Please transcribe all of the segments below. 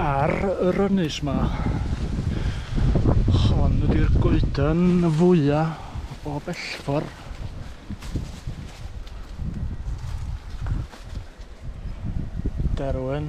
Ar yr ynys 'ma. Hon ydy'r goeden fwya o bellfor. Derwen.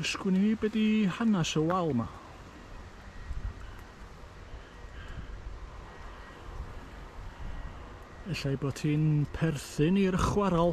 Ysgwni fi be di hanes y wal ma. Ella bod hi'n perthyn i'r chwaral.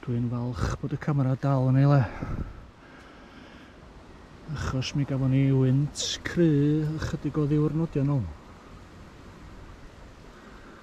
Dwi'n falch bod y camera dal yn ei le. Achos mi gafon ni wynt cry ychydig o ddiwrnodion nhw.